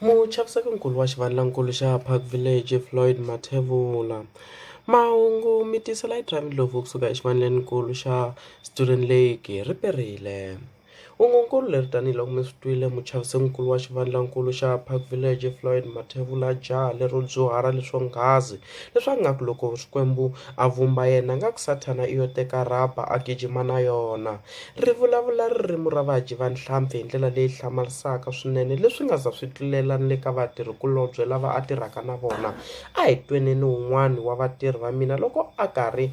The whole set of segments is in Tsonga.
muchaviseki-nkulu wa xivandlankulu xa park village floyd mathevula mahungu mi tisela hi drive ndlopfu kusuka exivandleni-nkulu xa student lake riperile U ngo nkululeri tanihi loko mi swi twile muchaviseninkulu wa xivandlankulu xa Park Village Floyd Mathebula jaha lero dyuhala leswo nghazi leswi a ngaku loko Xikwembu a vumba yena a nga ku Sathana i yo teka rhaba a gijima na yona. Ri vulavula ririmu ra vadyi va nhlampfi hi ndlela leyi hlamarisaka swinene leswi nga za swi tlulela ni le ka vatirhi kulobye lava a tirhaka na vona. A hi tweneni wun'wani wa vatirhi va mina loko a karhi.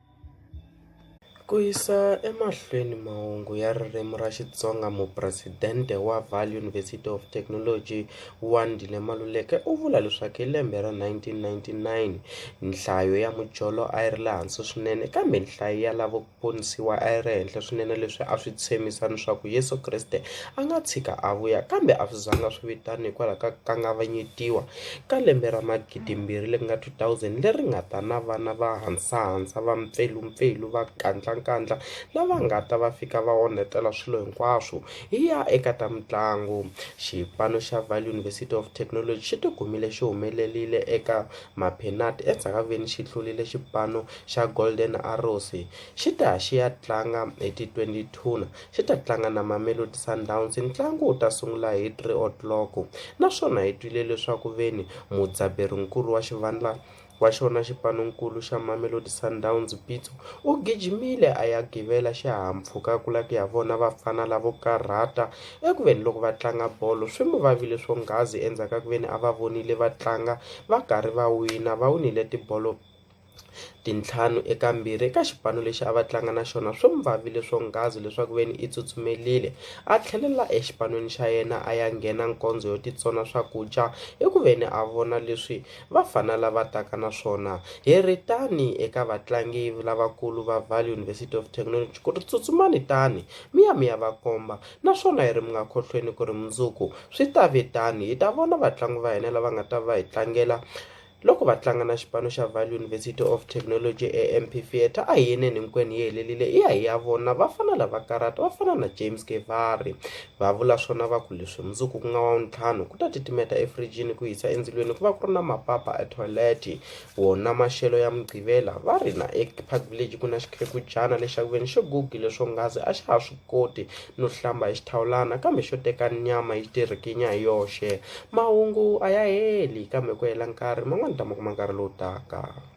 Ku yisa emahlweni mahungu ya ririmi ra Xitsonga mupresidente wa Vaal University of Technology Wandile Maluleke u vula leswaku hi lembe ra 1999 nhlayo ya mujolo a yi ri le hansi swinene kambe nhlayo ya lavo ponisiwa a yi ri henhla swinene leswi a swi tshembisa leswaku Yeso Kreste a nga tshika a vuya kambe a swi zanga swi vitana hikwalaho ka ku kangavanyetiwa. Ka lembe ra magidimbirhi leri nga 2000 leri nga ta na vana va hasahasa, va mpfelumpfelu, va nkandlankandla lava nga ta va fika va onhetela swilo hinkwaswo, hi ya eka ta mitlangu. Xipano xa Vaal University of Technology xi tikumile xi humelerile eka Maphinati endzhaku ka ku ve ni xi hlulile xipano xa Golden Arrows xi ta ya xi ya tlanga hi ti 20 Thuna xi ta tlanga na Mamelodi Sundowns ntlangu wu ta sungula hi 3 o'clock naswona hi twile leswaku veni mudzaberi-nkulu wa xivandla wa xona xipano-nkulu xa Mamelodi Sundowns Pitso u gijimile a ya givela xihahampfhuka ku la ku ya vona vafana lavo karhata eku veni loko va tlanga bolo swi mu vavile swonghasi endzhaku ka ku veni a va vonile va tlanga va karhi va wina va winile tibolo tintlhanu eka mbirhi eka xipano lexi a va tlanga na xona swi n'wi vavile swonghasi leswaku veni i tsutsumerile a tlhelela exipan'weni xa yena a ya nghena nkondzo yo titsona swakudya i ku veni a vona leswi vafana lava taka na swona hi ri tani eka vatlangi lavakulu va Vaal University of Technology ku ri tsutsumani tani mi ya mi ya va komba naswona hi ri mi nga khohlweni ku ri mundzuku swi ta vitani hi ta vona vatlangi va hina lava nga ta va hi tlangela Loko va tlanga na xipano xa Vaal University of Technology eMP Theatre a hi yeneni hinkwenu yi helelile i ya hi ya vona vafana lava karata va fana na James Kevari va vula swona va ku leswi mundzuku ku nga wa ntlhanu ku ta titimeta efrijini ku hisa endzilweni ku va ku ri na mapapa a toilet wona maxelo ya mugqivela va ri na ePark Village ku na xikhekujana lexi xa ku veni xo gugile swonghasi a xa ha swi koti no hlamba hi xithawulana kambe xo teka nyama yi ti rikinya hi yoxe mahungu a ya heli kambe ku hela nkarhi man'wani u ta ma kuma nkarhi lowu taka.